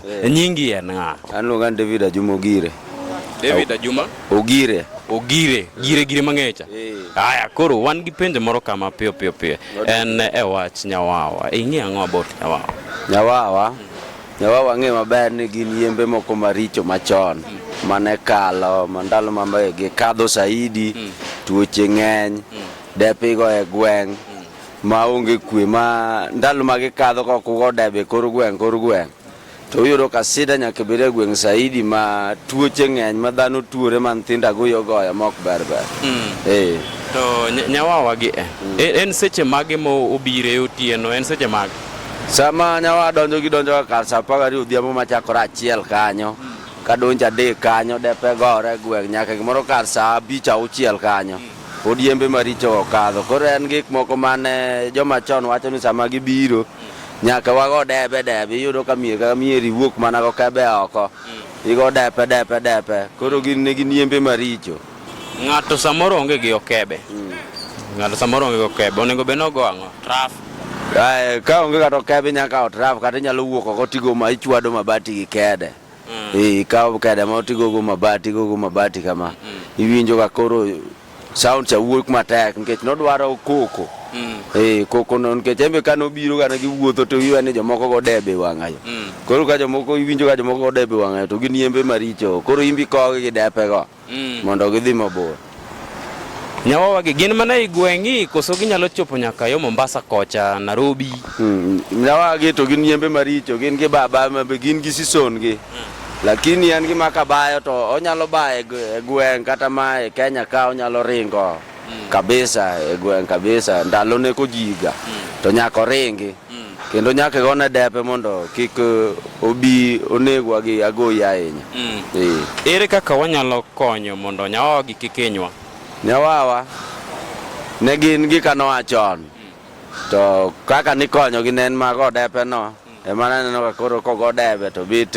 Eh. E nyingi en ng'a? An luonga David Ajuma Ogire. David Ajuma Ogire. Ogire, gire gire mang'echa. Eh. Aya, koro wan gi penjo moro kama piyo piyo piyo. En e wach Nyawawa. Ing'e ang'o about Nyawawa? Nyawawa. Hmm. Nyawawa ng'e maber ni gin yembe moko maricho machon hmm. mane kalo mandalo mambegi kadho saidi hmm. tuoche ng'eny depigo e gweng' ma onge kwe ma ndalo ma gikadho ka kugo debe kor gweng' kor gweng' to uyudo ka sida nyaka bed e gweng' saidi ma tuoche ng'eny ma dhano tuore ma nyithinda goyo goya ma ok ber ber mm. eh. to nyawawa gi eh. mm. e, en seche mage ma obire otieno en seche mage sama nyawa donjo gi donjo ka kar sa apar gariyo odhiambo machakore achiel kanyo mm. kadonjo adek kanyo depe gore gweng' nyaka gimoro kar sa abich auchiel kanyo mm. pod yembe maricho okadho. Koro en gik moko mane joma chon wacho ni sama gibiro nyaka wago debe debe, iyudo ka mier ka mier iwuok mana go kebe oko, igo depe depe depe. Koro gin ne gin yembe maricho. Ng'ato samoro onge gi okebe. Ng'ato samoro onge gi okebe. Onego bed ni ogo ang'o? Traf. Ae, ka onge kata okebe inyalo kawo traf kata inyalo wuok oko tigo ma ichwado mabati gi kede. mm. Eh, ikawo kada ma tigogo mabati igogo mabati kama mm. iwinjo ka koro sound cha wuok matek nikech nodwaro koko mm. eh, koko no nikech embe ka nobiro kana giwuotho to iwe ni jomoko go debe wang'ayo mm. koro ka jomoko iwinjo ka jomoko go debe wang'ayo to gin yembe maricho koro imbi kogi gi depe go mm. mondo gidhi mabor. Nyawawa gi gin mana e gweng'i koso ginyalo chopo nyaka yo Mombasa kocha Nairobi. Mm. Nyawawa gi to gin yembe maricho, gin gi baba, gin gi sison gi. Mm. Lakini en gima kabayo to onyalo bayo e gweng' kata ma e Kenya ka onyalo ringo mm. kabisa e gweng' kabisa ndalo ne kojiga mm. to nyako ringi. kendo nyaka gone depe mondo kik eh, obi onegwa gi agoyi ahinya mm. eh. ere kaka wanyalo konyo mondo nyawawa gi kik hinywa nyawawa ne gin gika noa chon mm. to kaka nikonyogi ne en mago depeno mm. ema naneno ka koro kogo debe to bit